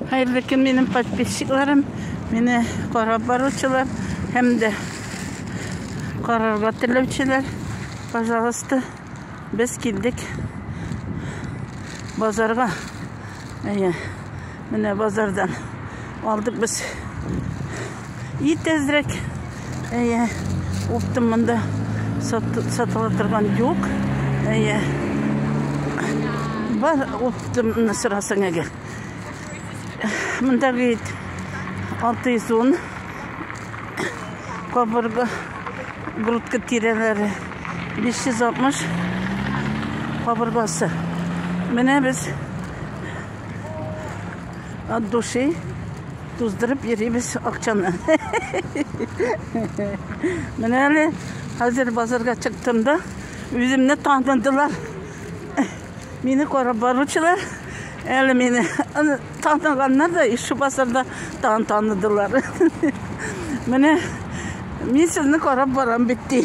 Хәерле көн минем подписчикларым, мине карап баручылар һәм дә карарга теләүчеләр. Пожалуйста, без килдек базарга. Әйе, менә базардан алдык без И тезрәк. Әйе. Уптым монда сатыла торган юк. Әйе. Бар уптым сорасын әгәр. Монда бит 610 кабырга грудка тирәләре 560 кабыргасы. Менә без от души Туздырып йөрибез акчаны. Менә әле хәзер базарга чыктым да, үземне таныдылар. Мине карап баручылар, әле мине таныганнар да, ишу базарда тан таныдылар. Менә мин сезне карап барам бит ди.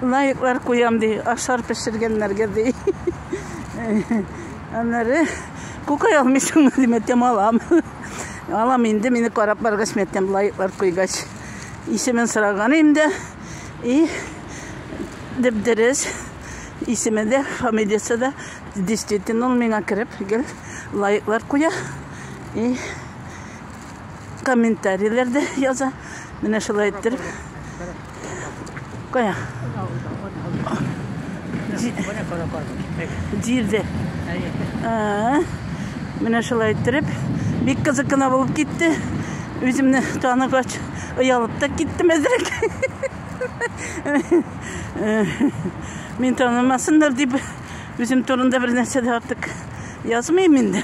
Лайклар куям ди, ашар пешергәннәргә ди. Аннары Күкай алмыйсыңмы дим әйтәм, алам. Алам инде, мине карап баргач, мен әйтәм, лайклар куйгач. Исемен сораган инде. И дип дөрес. Исеме дә, фамилиясе дә действительно ул миңа кереп, гел лайклар куя. И комментарийләр дә яза. Менә шулай иттереп. Кая? Җирдә. Менә шулай иттереп. Бик кызык кына булып китте. Үземне таныгач, оялып та киттем әзрәк. Мин танымасыннар дип, үзем турында бер нәрсә дә артык язмыйм инде.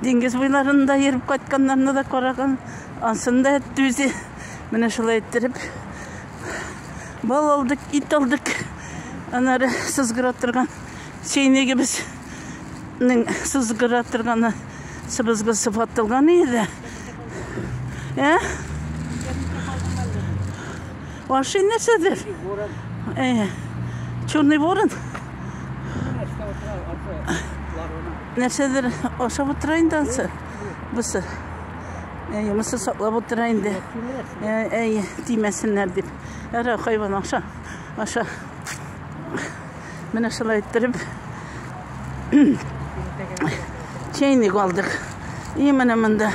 Диңгез буйларында йөреп кайтканнарны да караган. Ансын да әтте үзе. Менә шулай иттереп. Бал алдык, ит алдык. Анары сызгыра торган чәйнегебез сызгыра торганы сыбызгы сыфатылган иде. Ә? Ваши нәрсәдер? Черный ворон. Нәрсәдер ашап утыра инде ансы. Бусы. Әй, мысы саклап утыра инде. Әй, тимәсеннәр дип. Әра хайван аша. Аша. Менә шулай иттереп. Чәйник алдык. И менә монда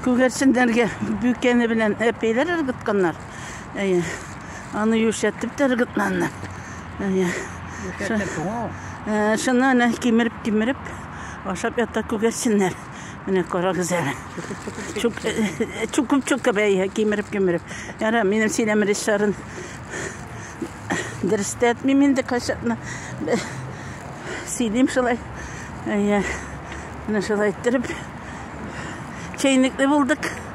күгәрченнәргә бүкәне белән әпәйләр ыргытканнар. Әйе. Аны юшәтеп тәргетләнне. Әйе. Шуны әле кимереп-кимереп ашап ята күгәрсеннәр. Менә карагыз әле. Чукып-чукып әйе, кимереп-кимереп. Яра, минем сөйләм режиссерын дөрестә әйтмим инде кайчакны. Сөйлим шулай. Әйе. Менә шулай иттереп. Чәйнекле булдык.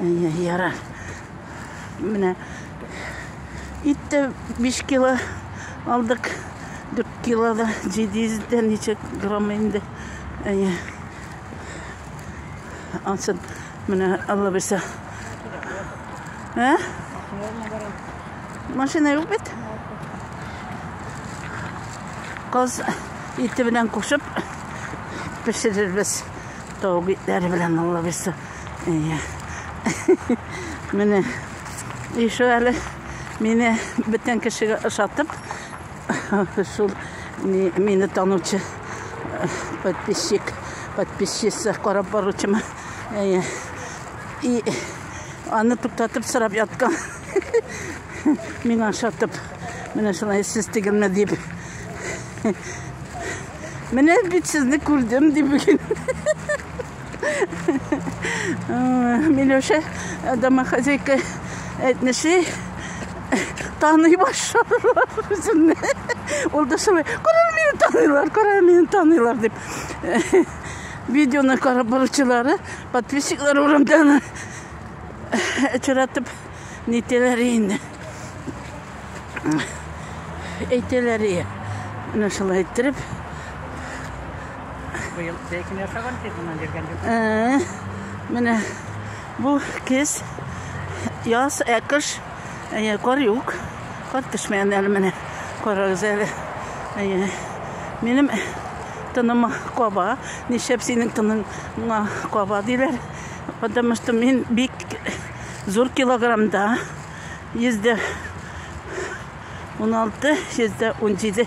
Яра. Менә ит тә 5 кило алдык. 4 кило да 700 дә ничек грамм инде. Әйе. Алсын. Менә Алла бирсә. Ә? Машина юк бит. Каз ите белән кушып пешерербез. Тау битләре белән Алла бирсә. Әйе. Менә ише әле мине бөтен кешегә ошатып шул мине танучы подписчик подписчица карап баручыма әйе и аны туктатып сорап яткан миңа ошатып менә шулай сез түгелме дип менә бит сезне күрдем дип бүген Миләүшә домохозяйка әйтмешли, таный башлар үземне. Ул да шулай, күрә мине таныйлар, күрә мине таныйлар дип. Видеоны карап баручылары, подписчиклар урамдан очратып нителәр инде. Әйтәләр ие. Менә шулай иттереп, Быел бәйкін ясаган тип моннан җиргән юк. Ә, Менә бу кез яз, ә кыш әйе, кар юк. Кар төшмәгән әле менә. Карагыз әле. Әйе. Минем тыныма каба. Нишләп синең тыныңа каба диләр? Потому что мин бик зур килограммда. Йөздә 16, йөздә 17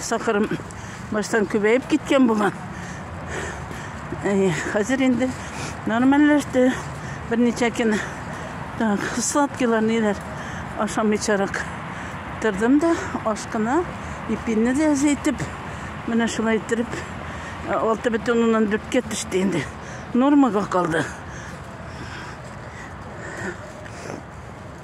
Сахарым баштан күбәеп киткән булган. Хәзер инде нормальләште. Берничә көн так, сладкилар ниләр ашамыйчарак тордым да, ашкына ипинне дә әзәйтеп, менә шулай иттереп, алты бөтен уннан дүрткә төште инде. Нормага калды.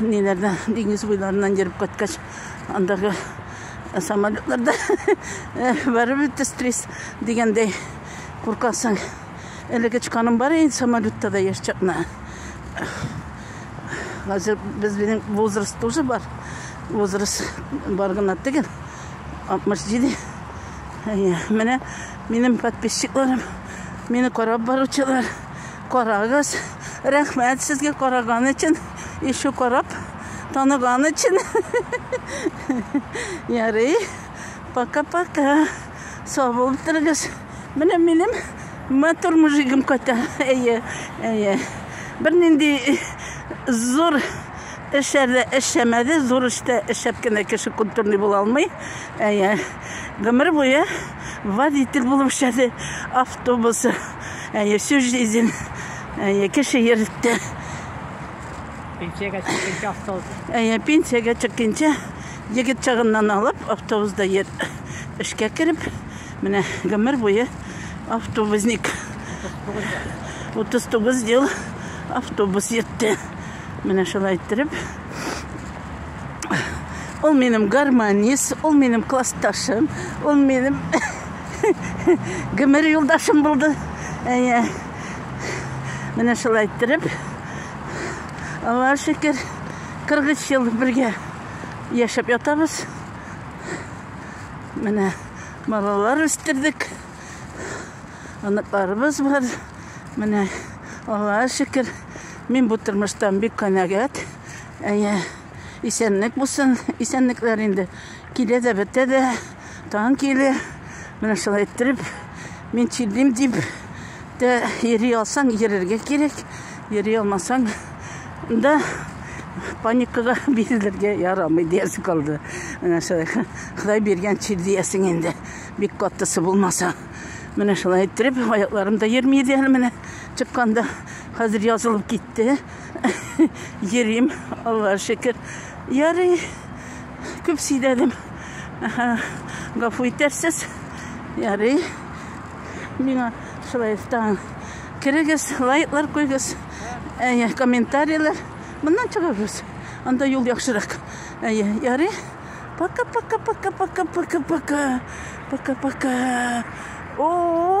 Ниләрдә диңгез буйларыннан йөреп кайткач, андагы самолетларда барып бетте стресс дигәндәй куркасың. Әлеге чыканым бар инде самолетта да яшь чакна. Хәзер без минем возраст тоже бар. Возраст бар гына түгел. 67. Менә минем подписчикларым, мине карап баручылар. Карагыз, рәхмәт сезгә караган өчен, ишу карап таныган өчен. Ярый, пока-пока. Сау булып торыгыз. Менә минем матур мужигым кайта. Әйе, әйе. Бер нинди зур эшләрдә эшләмәде, зур эштә эшләп кенә кеше культурный була алмый. Әйе. Гомер буе водитель булып эшләде автобусы. Әйе, всю жизнь. Әйе, кеше йөртте. Пенсиягә чыкканча автобус. Әйе, пенсиягә чыкканча егет чагыннан алып автобусда йөр. Эшкә кереп, менә гомер буе автобусник. 39 ел автобус йөртте. Менә шулай иттереп. Ул минем гармонист, ул минем классташым, ул минем гомер юлдашым булды. Әйе. Менә шулай иттереп. Аллаһ шөкер, 43 ел бергә яшәп ятабыз. Менә балалар үстердек. Оныкларыбыз бар. Менә Аллаһ шөкер, мин бу тормыштан бик канәгать. Әйе. Исәнлек булсын, исәнлекләр инде. Килә дә бетә дә, таң киле. Менә шулай иттереп, мин чилдим дип, дә йөри алсаң, йөрергә кирәк. Йөри алмасаң, да паникага бирелергә ярамый диясе калды. Менә шулай. Ходай биргән чир диясең инде. Бик каттысы булмаса. Менә шулай иттереп, аякларым да йөрми иде әле менә чыкканда. Хәзер язылып китте. йөрим, Аллаһ шөкер. Ярый, күп сөйләдем. Гафу итәрсез. Ярый. Миңа шулай таң. Керегез, лайклар куйгыз, әйе, комментарийлар. Моннан чыгабыз. Анда юл яхшырак. Әйе, ярый. Пока-пока-пока-пока-пока-пока. Пока-пока. О!